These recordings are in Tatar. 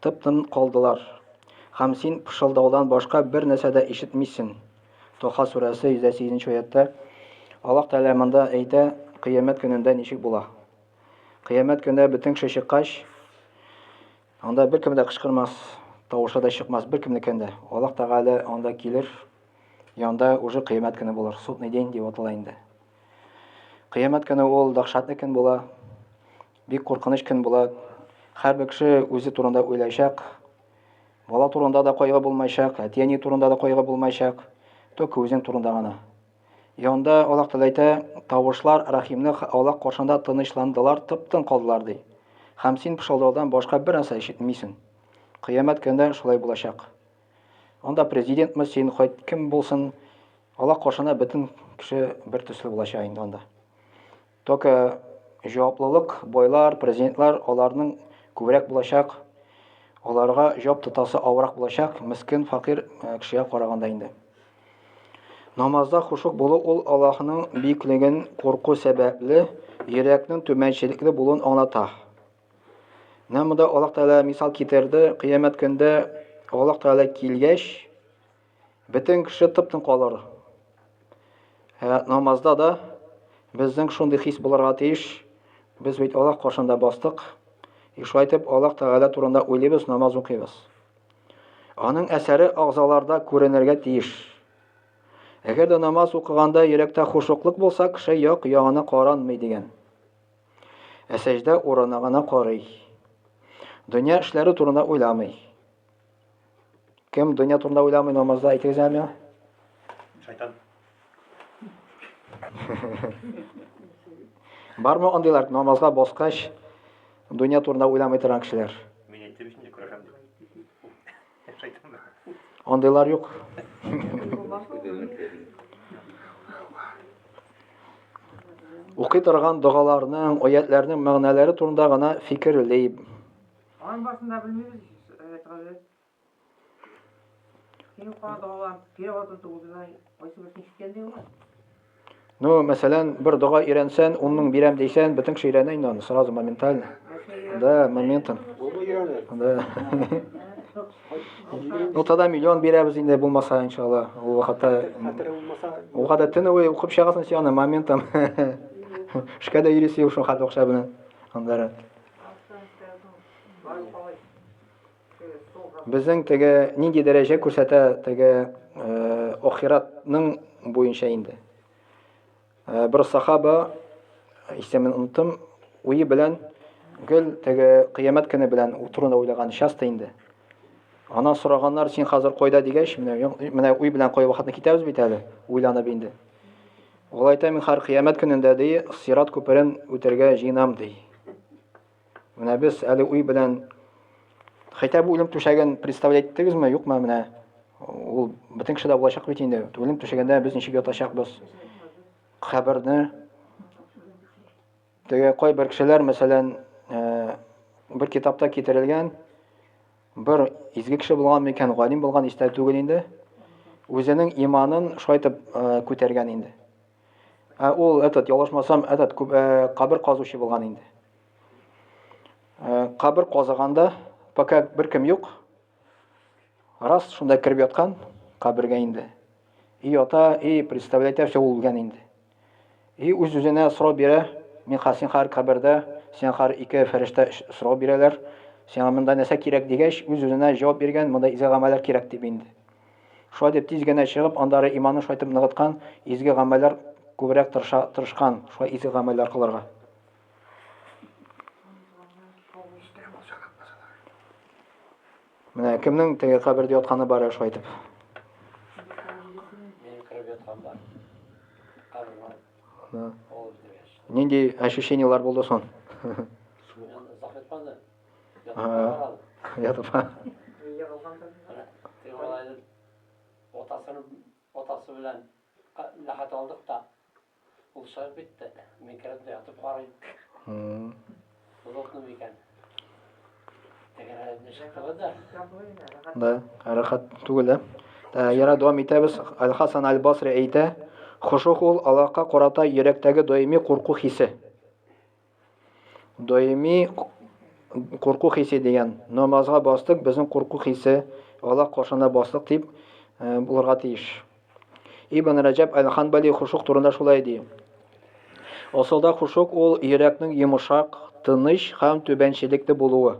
Тып-тын калдылар. Һәм син пышылдаудан башка бер нәрсә дә ишетмисен. Тоха сүрәсе 108 нче аятьтә Аллаһ Тәгалә монда әйтә, Кыямәт көнендә ничек була? Кыямәт көне бөтен кеше чыккач, анда беркем дә кычкырмас, тавышы да чыкмас, беркемнекен дә. Аллаһ Тәгалә анда килер, и анда уже кыямәт көне булыр. Судный день дип атала инде. Кыямәт көне ул дәһшәтле көн була. Бик куркыныч көн була. Һәрбер кеше үзе турында уйлайчак. Бала турында да кайгы булмайчак, әти-әни турында да кайгы булмайчак, только үзең турында гына. И анда Аллаһ Тәгалә әйтә, Тавышлар Рәхимне аулак каршында тынычландылар, тып-тын калдылар, ди. Һәм син пышылдаудан башка бер нәрсә ишетмисең. Кыямәт көнендә шулай булачак. Анда президентмы син, хоть кем булсын, Аллаһ каршында бөтен кеше бер төсле булачак инде анда. Только җаваплылык байлар, президентлар, аларның күбрәк булачак, аларга җап тотасы авырак булачак, мескен факир кешегә караганда инде. Намазда хушук булу ул Аллаһның бөеклеген курку сәбәпле йөрәкнең түбәнчелекле булуын аңлата. Менә монда Аллаһ Тәгалә мисал китерде, кыямәт көндә Аллаһ Тәгалә килгәч, Бөтен кеше тып-тын калыр. Ә намазда да безнең шундый хис булырга тиеш. Без бит Аллаһ каршында бастык. И шулай итеп, Аллаһ Тәгалә турында уйлыйбыз, намаз укыйбыз. Аның әсәре агъзаларда күренергә тиеш. Әгәр дә намаз укыганда йөрәктә хушуклык булса, кеше як ягына каранмый дигән. Ә сәҗдә урынына гына карый. Дөнья эшләре турында уйламый. Кем дөнья турында уйламый намазда әйтегез әле миңа? Шайтан. Бармы андыйлар намазга баскач дөнья турында уйламый торган кешеләр? Мин әйттем инде күрәм дип. Шайтан. Андыйлар юк. Укый торган догаларның, аятларның мәгънәләре турында гына фикерлим. Аның барысын да белмибез ич, Рәят гаҗәеп. Син кара догалар, переводын тулдырай, кайсы берсен ишеткән ди ул? Ну, мәсәлән, бер дога өйрәнсән, унның бирәм дисән, бөтен кеше өйрәнә инде аны сразу моментально. Да, моментом. Да. Ну, тогда миллион бирәбез инде булмаса, иншалла. Ул вакытта ул вакытта төне буе укып чыгасың син аны моментом. Шкада йөрисе юк шул хәтле акча белән. Аннары Безнең теге нинди дәрәҗә күрсәтә теге э, ахиратның буенча инде. Э, бер сахаба исемен оныттым, уе белән гел теге кыямәт көне белән утыруны уйлаган часто инде. Анан сораганнар, син хәзер кайда дигәч, менә менә уй белән кай вакытны китәбез бит әле, уйланып инде. Олайта мин хар кыямәт көнендә ди, сират күперен үтергә җыенам ди. Менә без әле уй белән хәйтә бу үлем түшәген представлять иттегезме, юкмы менә? Ул бөтен кешедә булачак бит инде. Үлем түшәгендә без ничек ятачакбыз? Каберне Теге кайбер кешеләр, мәсәлән, бер китапта китерелгән, бер изге кеше булган микән, галим булган истә түгел инде, үзенең иманын шайтып күтәргән инде. Ә ул, этот, ялгышмасам, этот, кабер казучы булган инде. Кабер казыганда, пока бер кем юк, Раз шунда кереп яткан кабергә инде. И ата, и представлять әшә ул үлгән инде. И үз-үзенә сорау бирә, мин хасин хар кабердә, сиңа хар ике фәрештә сорау бирәләр, сиңа монда нәрсә кирәк дигәч, үз-үзенә җавап биргән, монда изге гамәлләр кирәк дип инде. Шулай дип тиз генә чыгып, андары иманын шулайтып ныгыткан, изге гамәлләр күбрәк тырыша, тырышкан, шулай изге гамәлләр кылырга. Менә кемнең теге кабердә ятканы бар әле шулай итеп? Нинди ощущениелар булды соң? Ятып. Отасы белән ләхәт алдык та Ул шар бит тә, мин керәм дә ятып карыйм. Плотно микән? Тәгәрәде шикелле дә. Да, рәхәт түгел дә. Ә, яра дәвам итәбез. Аль-Хасан аль-Басри әйтә, хошух ул Аллаһка карата йөрәктәге даими курку хисе. Даими курку хисе дигән. Намазга бастык, безнең курку хисе Аллаһ каршына бастык дип э, булырга тиеш. Ибн Раҗаб Әл-Ханбали хушук турында шулай ди. Асылда хушук ул йөрәкнең йомышак, тыныч һәм түбәнчелекле булуы.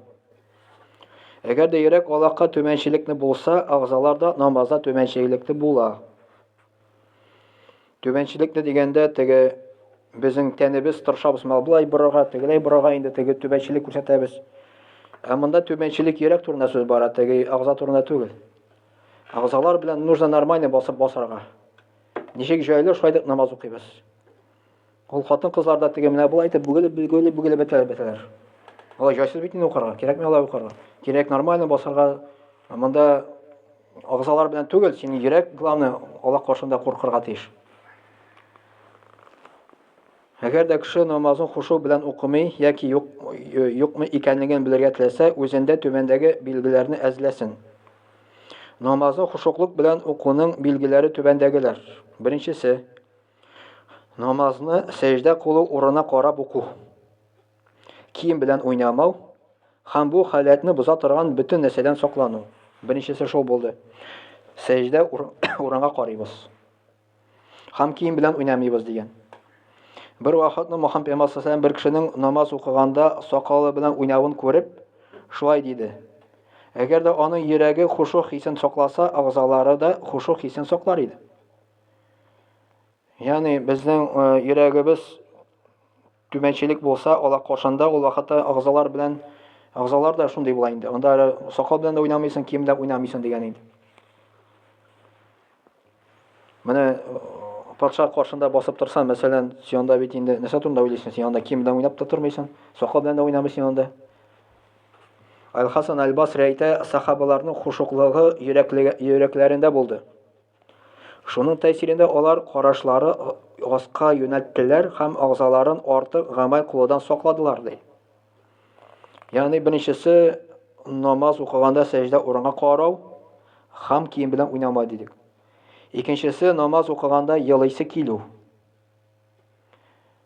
Әгәр дә йөрәк Аллаһка түбәнчелекле булса, агъзалар да намазда түбәнчелекле була. Түбәнчелекне дигәндә, теге безнең тәнебез тырышабыз мына былай борырга, тегеләй борырга инде теге түбәнчелек күрсәтәбез. Ә монда түбәнчелек йөрәк турында сүз бара, теге агза турында түгел. Агзалар белән нужно нормально басып басарга. Ничек җайлы, шулай дип намаз укыйбыз. Ул хатын-кызлар да теге менә болай итеп бүгелеп, бүгелеп, бүгелеп бетәләр, бетәләр. Алай җайсыз бит инде укырга, кирәкми алай укырга. Кирәк нормально басарга. Монда агзалар белән түгел, син йөрәк главное Аллаһ каршында куркырга тиеш. Әгәр дә кеше намазын хушу белән укымый яки юк, юкмы икәнлеген белергә теләсә, үзендә түбәндәге билгеләрне әзләсен. Намазны хушуклык белән укуның билгеләре түбәндәгеләр. Беренчесе, Намазны сәҗдә кылу урынына карап уку. Кием белән уйнамау һәм бу халәтне боза торган бөтен нәрсәдән саклану. Беренчесе шул булды. Сәҗдә урынга карыйбыз. Һәм кием белән уйнамыйбыз дигән. Бер вакытны Мөхәммәд пәйгамбәр саллаллаху бер кешенең намаз укыганда сакалы белән уйнавын күреп, шулай диде. Әгәр дә аның йөрәге хушух хисен сакласа, агъзалары да хушух хисен саклар иде. Ягъни безнең э, йөрәгебез түбәнчелек булса, ала кошанда ул вакытта агзалар белән агзалар да шундый була инде. Анда әле сакал белән дә уйнамыйсың, кием дә уйнамыйсың дигән инде. Менә э, патша каршында басып торса, мәсәлән, сионда бит инде нәрсә турында уйлыйсың? Син анда кием белән уйнап та тормыйсың, сакал белән дә уйнамыйсың анда. Аль-Хасан аль-Басри әйтә, сахабаларның хушуклыгы йөрәкләрендә булды. Шуның тәэсирендә алар карашлары аска юнәлттеләр һәм агъзаларын артык гамәл кылудан сакладылар, ди. Ягъни беренчесе намаз укыганда сәҗдә урынга карау һәм кием белән уйнамау дидек. Икенчесе намаз укыганда елыйсы килү.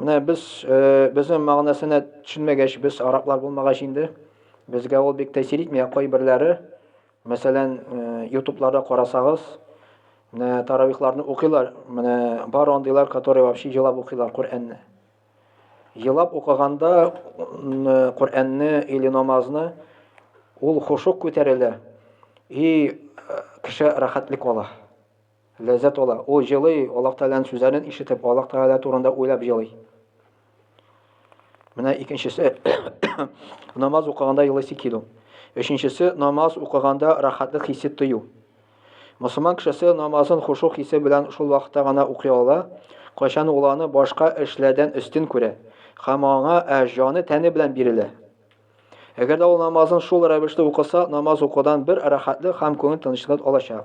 Менә без, э, безнең мәгънәсенә төшенмәгәч, без араклар булмагач инде, безгә ул бик тәэсир итми, ә кайберләре, мәсәлән, э, ютубларда карасагыз, менә таравихларны укыйлар, менә бар андыйлар, которые вообще елап укыйлар Коръәнне. Елап укыганда э, Коръәнне или намазны ул хушук күтәрелә и э, кеше рәхәтлек ала. Ләззәт ала. Ул җылый, Аллаһ Тәгаләнең сүзләрен ишетеп, Аллаһ Тәгалә турында уйлап җылый. Менә икенчесе, намаз укыганда елыйсы килү. Өченчесе, намаз укыганда рахатлык хисе тою. Мусулман кешесе намазын хушук хисе белән шул вакытта гына укый ала, кайчан ул аны башка эшләрдән өстен күрә һәм аңа ә, җаны тәне белән бирелә. Әгәр дә ул намазын шул рәвешле укыса, намаз укудан бер рәхәтлек һәм күңел тынычлыгы алачак.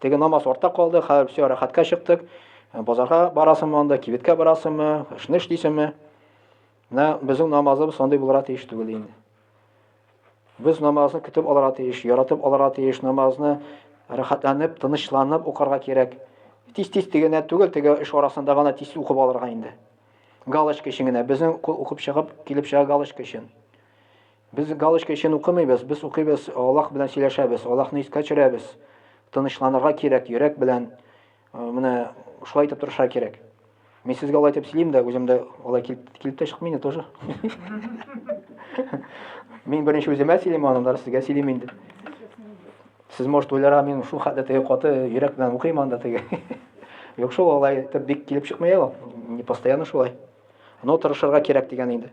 Теге намаз артта калды, хәзер все рәхәткә чыктык. Э, базарга барасыңмы анда, кибеткә барасыңмы, эшне эшлисеңме? Менә безнең намазыбыз андый булырга тиеш түгел инде. Без намазны көтеп алырга тиеш, яратып алырга тиеш, намазны рәхәтләнеп, тынычланып укырга кирәк. Тиз-тиз дигәнә түгел, теге эш арасында гына тиз укып алырга инде. Галочка өчен генә, безнең кул укып чыгып, килеп чыга галочка өчен. Без галочка өчен укымыйбыз, без укыйбыз, Аллаһ белән сөйләшәбез, Аллаһны искә төшерәбез. Тынычланырга кирәк, йөрәк белән э, менә шулай итеп тырышырга кирәк. Мин сезгә алай итеп сөйлим дә, үзем дә алай килеп килеп тә чыкмый инде тоже. Мин беренче үземә сөйлим, аннан сезгә сөйлим инде. Сез может уйларга мин шул хәтле теге каты йөрәк белән укыйм анда теге. Юк шул алай итеп бик килеп чыкмый ул. Не постоянно шулай. Но тырышырга кирәк дигән инде.